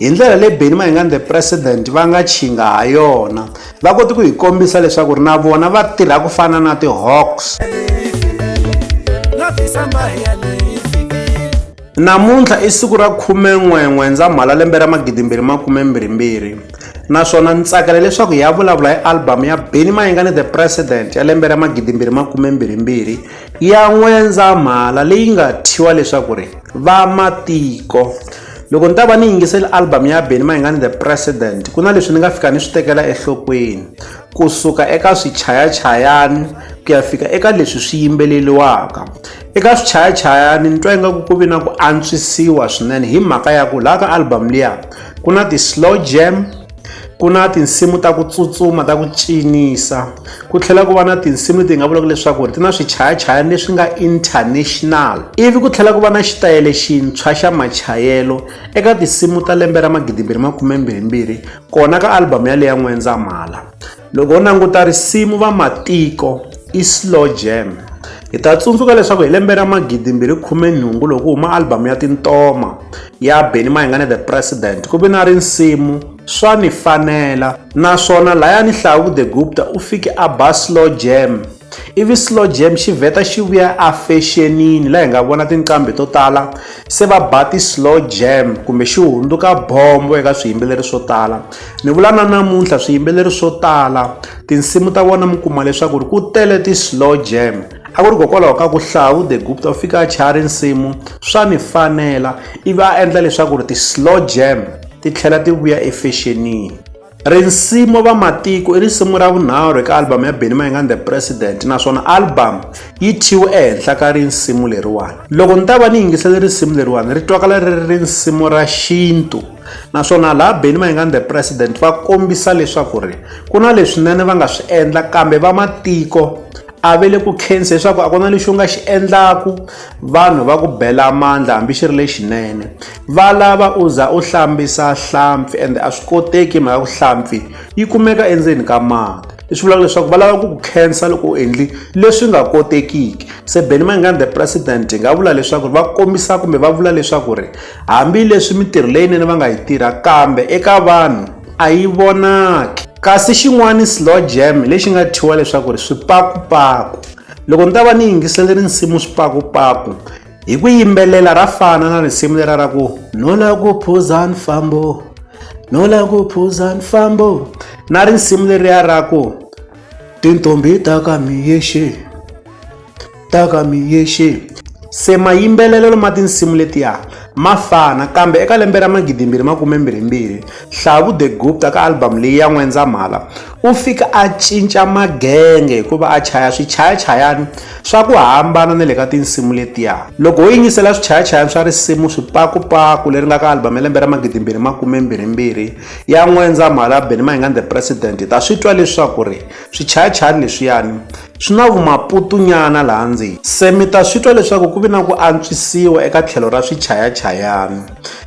Hi ndlela leyi Benny Mayengani the President va nga chinga ha yona, va kote ku hi kombisa leswaku na vona va tirha ku fana na ti-hawks. Namuntlha i siku ra khumen'we N'wendzamhala lembe ra magidimbirhi makumembirhimbirhi naswona ni tsakela leswaku hi ya vulavula hi album ya Benny Mayengani the President ya lembe ra magidimbirhi makumembirhimbirhi ya N'wendzamhala leyi nga thyiwa leswaku ri Vamatiko. loko ni ta va ni yingiseli album ya beni mayingani the president ku na leswi ni nga fika ni swi tekela enhlokweni kusuka eka swichayachayani ku ya fika eka leswi swi yimbeleliwaka eka swichayachayani ni twa ingaku ku vi na ku antswisiwa swinene hi mhaka ya ku laha ka album liya ku na ti-slow jam Ku na tinsimu ta ku tsutsuma ta ku cinisa ku tlhela ku va na tinsimu leti hi nga vulaka leswaku ri ti na swichayachayani leswi nga international ivi ku tlhela ku va na xitayele xintshwa xa machayelo eka tinsimu ta lembe ra magidimbirhi makhumembirhimbirhi kona ka album yaleyo ya n'wendzamhala loko u languta risimu va matiko i slow jam hi ta tsundzuka leswaku hi lembe ra magidimbirhi khume nhungu loko ku huma albhamu ya tintoma ya beni mayingane the president ku ve na rinsimu swa ni fanela naswona layani hlawu the gupta u fike a ba slow jam ivi slow jam xi vheta xi vuya efexenini laha hi nga vona tinqambi to tala se va ba ti-slow jam kumbe xi hundzuka bombo eka swiyimbeleri swo tala ni vula na namuntlha swiyimbeleri swo tala tinsimu ta vona mi kuma leswaku ri ku tele ti-slow jam a ku ri kokwalaho ka ku hlawu the gupta u fika a chaya rinsimu swa ni fanela ivi a endla leswaku ri ti-slow jam ti tlhela ti vuya efexenini Risimu Vamatiko i risimu ra vunharhu eka album ya Benny Mayengani The President naswona album yi thyiwe ehenhla ka risimu leriwani. Loko ni ta va ni yingisele risimu leriwani ri twakala ri ri risimu ra xintu naswona laha Benny Mayengani The President va kombisa leswaku ri ku na leswinene va nga swi endla kambe vamatiko a ve le ku khensa leswaku a ku na lexi u nga xi endlaku vanhu va ku bela mandla hambi xi ri lexinene va lava u za u hlambisa hlampfi ende a swi koteki mhaka ku hlampfi yi kumeka endzeni ka mati leswi vulaka leswaku va lava ku ku khensa loko u endli leswi nga kotekiki se benny mangani the president hi nga vula leswaku va kombisa kumbe va vula leswaku ri hambileswi mitirho leyinene va nga yi tirha kambe eka vanhu a yi vonaki kasi xin'wana slow jam lexi nga thyiwa leswaku ri swipakupaku loko ni ta va ni yingisele rinsimu swipakupaku hi ku yimbelela ra fana na risimu lera ra ku no la ku phuza nfambo no la ku phuza nfambo na risimu leriya ra ku tintombi ta ka miyexe ta ka miyexe se mayimbelelelo ma tinsimu letiya ma fana kambe eka lembe ra magidimbirhi makumembirhimbirhi hlavu the gupta ka album leyi ya n'wendzamhala u fika a cinca magenge hikuva a chaya swichayachayani swa ku hambana na le ka tinsimu letiya loko ho yingisela swichayachayani swa risimu swipakupaku leri nga ka albhamu ya lembe ra magidimbirhi makumembirhimbirhi ya n'wendza mhalabe ni mahingani the president hi ta swi twa leswaku ri swichayachayani leswiyani swi na vumaputunyana laha ndzeni se mi ta swi twa leswaku ku vi na ku antswisiwa eka tlhelo ra swichayachayani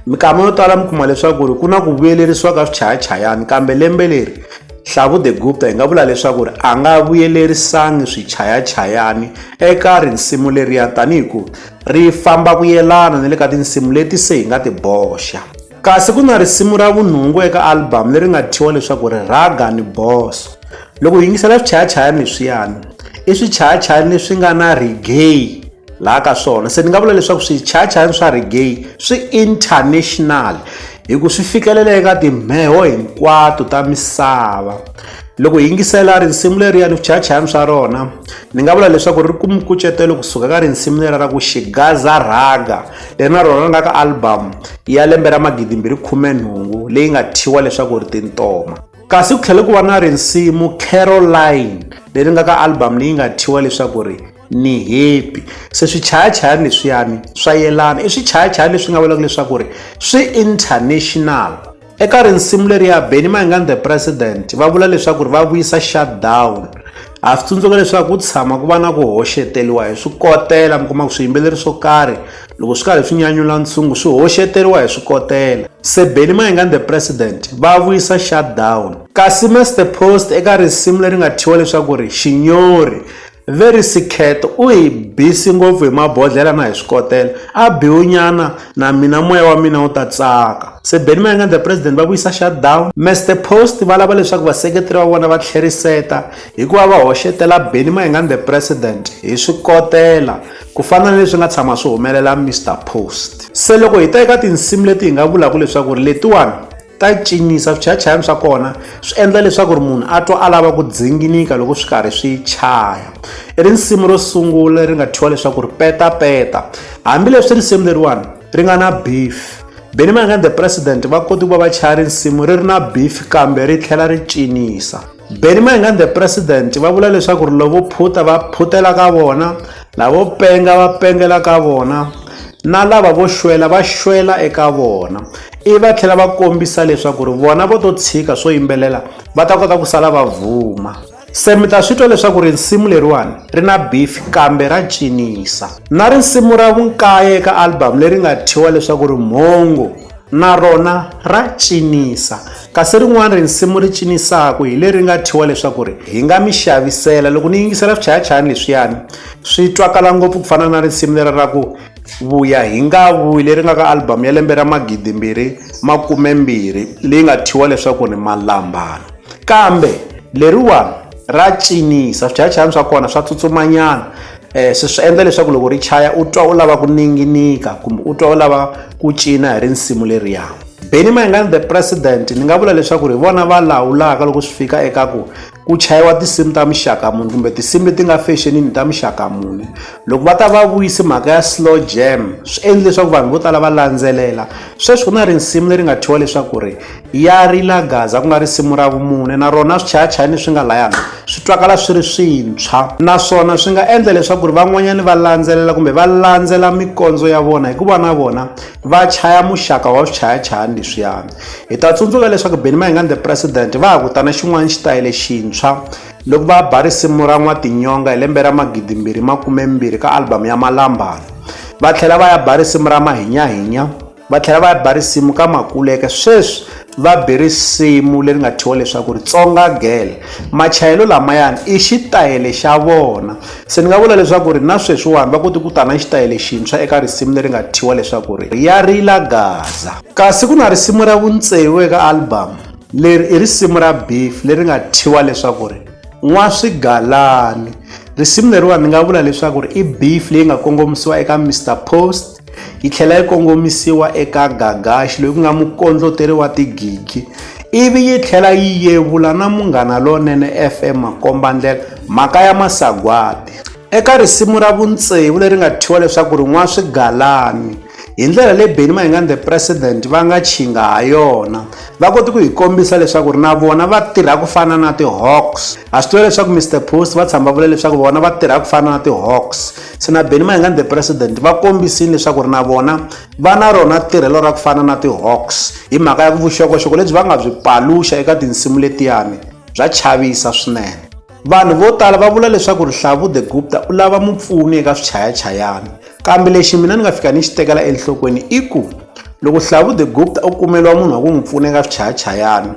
Mikama yo tala mi kuma leswaku ri ku na ku vuyelerisiwa ka swichayachayani kambe lembe leri Hlavu the Gupta hi nga vula leswaku ri a nga vuyelerisangi swichayachayani eka risimu leriya tanihi ku ri famba ku yelana ni le ka tinsimu leti se hi nga ti boxa kasi ku na risimu ra vunhungu eka album leri nga thyiwa leswaku ri raga ni boso loko hi yingisela swichayachayani leswiyani i swichayachayani leswi nga na regay laha ka swona se ni nga vula leswaku swichayachayani swa regay swi international hi ku swi fikelela eka timheho hinkwato ta misava loko hi yingisela risimu leriya ni swichayachayani swa rona ni nga vula leswaku ri kume nkucetelo kusuka ka risimu leriya ra ku xigaza rhaga leri na rona ri nga ka album ya lembe ra magidimbirhi khume nhungu leyi nga thyiwa leswaku ri tintoma kasi ku tlhele ku va na risimu caroline leri nga ka album leyi nga thyiwa leswaku ri ni happy se swichayachayani leswiyani swa yelana i swichayachayani leswi nga vulaka leswaku ri swi international eka rinsimu leri ya beni maingani the president va vula leswaku ri va vuyisa shutdown ha swi tsundzuka leswaku ku tshama ku va na ku hoxeteriwa hi swikotela mi kuma ku swiyimbeleri swo karhi loko swi karhi swi nyanyula ntshungu swi hoxeteriwa hi swikotela se beni maingani the president va vuyisa shutdown kasi master post eka risimu leri nga thyiwa leswaku ri xinyori Very sick cat u hi busy ngopfu hi mabodlhela na hi swikotela a biwunyana na mina moya wa mina wu ta tsaka se Benny Mayengani the president va vuyisa shutdown Mister Post va lava leswaku vaseketeri va vona va tlheriseta hikuva va hoxetela Benny Mayengani the president hi swikotela ku fana na leswi nga tshama swi humelela Mister Post se loko hi ta eka tinsimu leti hi nga vulaka leswaku ri letiwani ta cinisa swichayachayani swa kona swi endla leswaku ri munhu a twa a lava ku dzinginika loko swi karhi swi chaya i risimu ro sungula ri nga thyiwa leswaku ri petapeta hambileswi risimu leriwani ri nga na beef benimangani the president va koti ku va va chaya risimu ri ri na beef kambe ri tlhela ri cinisa Benny Mayengani the president va vula leswaku ri lavo phuta va phutela ka vona lavo penga va pengela ka vona na lava vo xwela va xwela eka vona i va tlhela va kombisa leswaku ri vona vo to tshika swo yimbelela va ta kota ku sala va vuma se mi ta swi twa leswaku risimu leriwani ri na beef kambe ra cinisa na risimu ra vunkaye eka album leri nga thyiwa leswaku ri mhongo na rona ra cinisa Kasi rin'wana risimu ri cinisaku hi leri nga thyiwa leswaku ri hi nga mi xavisela. Loko ni yingisela swichayachayani leswiyani swi twakala ngopfu ku fana na risimu leri ra ku vuya hi nga vuyi leri nga ka album ya lembe ra magidimbirhi makumembirhi leyi nga thyiwa leswaku ni malambana kambe leriwani ra cinisa swichayachayani swa kona swa tsutsumanyana um swi swi endla leswaku loko ri chaya u twa u lava ku ninginika kumbe u twa u lava ku cina hi rinsimu leriyani Benny Mayengani the president ni nga vula leswaku ri vona va lawulaka loko swi fika eka ku ku chayiwa tinsimu ta muxaka muni kumbe tinsimu leti nga fexenini ta muxaka muni loko va ta va vuyisi mhaka ya slow jam swi endli leswaku vanhu vo tala va landzelela sweswi ku na risimu leri nga thyiwa leswaku ri ya rila gaza ku nga risimu ra vumune na rona swichayachayani swi nga layana swi twakala swi ri swintshwa naswona swi nga endla leswaku ri van'wanyani va landzelela kumbe va landzela mikondzo ya vona hikuva na vona va chaya muxaka wa swichayachayani leswiyani hi ta tsundzuka leswaku benny mayingani the president va ha kutana xin'wana xitayele xintshwa loko va ba risimu ra n'watinyonga hi lembe ra magidimbirhi makumembirhi ka album ya malambana va tlhela va ya ba risimu ra mahinyahinya va tlhela va ya ba risimu ka makuleke sweswi va be risimu leri nga thyiwa leswaku ri tsonga gele machayelo lamayani i xitayele xa vona Se ni nga vula leswaku ri na sweswiwani va kote ku ta na xitayele xintshwa eka risimu leri nga thyiwa leswaku ri Ya Rila Gaza. Kasi ku na risimu ra vuntseu eka album. Leri i risimu ra Beef leri nga thyiwa leswaku ri Nwa Swigalani. Risimu leriwani ni nga vula leswaku ri i beef leyi nga kongomisiwa eka Mister Post, yi tlhela yi kongomisiwa eka Gagashi loyi ku nga mukondloteri wa tigigi ivi yi tlhela yi yevula na Munghana Lonene FM makombandlela mhaka ya masagwati eka risimu ra vuntsevu leri nga thyiwa leswaku ri n'wa swigalani hi ndlela leyi Benny Mayengani the president va nga chinga ha yona va koti ku hi kombisa leswaku ri na vona va tirha ku fana na ti-hawks ha swi tiva leswaku Mister Post va tshama va vula leswaku vona va tirha ku fana na ti-hawks se na benny mayengani the president va kombisile leswaku ri na vona va na rona tirhelo ra ku fana na ti-hawks hi mhaka ya ku vuxokoxoko lebyi va nga byi paluxa eka tinsimu letiyani bya chavisa swinene vanhu vo tala va vula leswaku rihlavu the gupta u lava mupfuni eka swichayachayani kambe lexi mina ni nga fika ni xi tekela enhlokweni i ku loko hlavu the gupta u kumeliwa munhu wa ku n'wi pfuna eka swichayachayani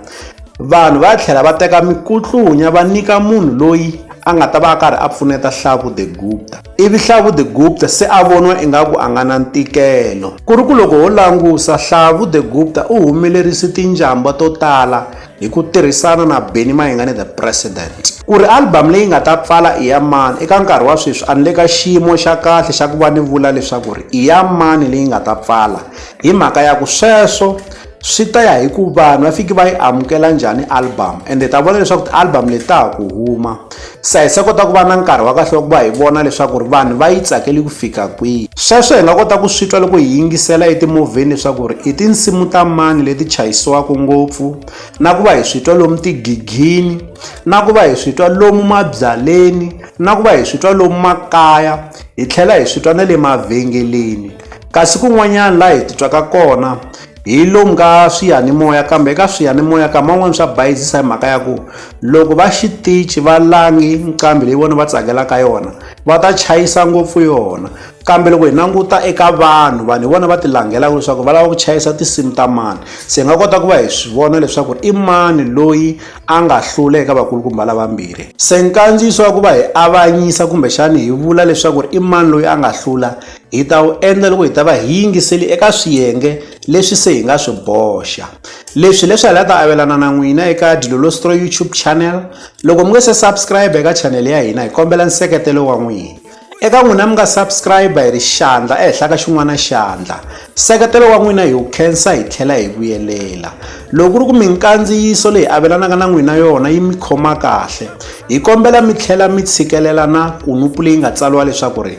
Vanhu va tlhela va teka mikutlunya va nyika munhu loyi a nga ta va a karhi a pfuneta Hlavu the Gupta. Ivi Hlavu the Gupta se a voniwa ingaku a nga na ntikelo. Ku ri ku loko ho langusa, Hlavu the Gupta u humelerise tinjambwa to tala hi ku tirhisana na Benny Mayengani the President. Ku ri album leyi nga ta pfala i ya mani, eka nkarhi wa sweswi a ni le ka xiyimo xa kahle xa ku va ni vula leswaku ri i ya mani leyi nga ta pfala hi mhaka ya ku sweswo swi ta ya hi ku vanhu va fiki va yi amukela njhani album ende ta vona leswaku ti-album leti ta ha ku huma se hi se kota ku va na nkarhi wa kahle wa ku va hi vona leswaku ri vanhu va yi tsakeli ku fika kwihi sweswo hi nga kota ku swi twa loko hi yingisela etimovheni leswaku ri i tinsimu ta mani leti chayisiwaka ngopfu na ku va hi swi twa lomu tigigini na ku va hi swi twa lomu mabyaleni na ku va hi swi twa lomu makaya hi tlhela hi swi twa na le mavhengeleni Kasi kun'wanyana laha hi titwaka kona hi lomu ka swiyanimoya kambe eka swiyanimoya ka man'wani swa bayizisa hi mhaka ya ku loko va xitichi va langi nqambi leyi vona va tsakelaka yona va ta chayisa ngopfu yona kambe loko hi languta eka vanhu vanhu hi vona va ti langelaka leswaku va lava ku chayisa tinsimu ta mani se hi nga kota ku va hi swi vona leswaku i mani loyi a nga hlula eka vakulukumba lavambirhi se nkandziyiso wa ku va hi avanyisa kumbexani hi vula leswaku i mani loyi a nga hlula Hi ta wu endla loko hi ta va hi yingiseli eka swiyenge leswi se hi nga swi boxa. Leswi leswaku hi ta avelana na n'wina eka Dilolostro YouTube channel. Loko mi nge se subscribe eka channel ya hina hi kombela nseketelo wa n'wina. Eka n'wina mi nga subscribe hi ri xandla ehenhla ka xin'wana xandla. Nseketelo wa n'wina hi wu khensa hi tlhela hi vuyelela. Loko ku ri ku minkandziyiso leyi avelanaka na n'wina yona yi mi khoma kahle, hi kombela mi tlhela mi tshikelela na kunupu leyi nga tsariwa leswaku ri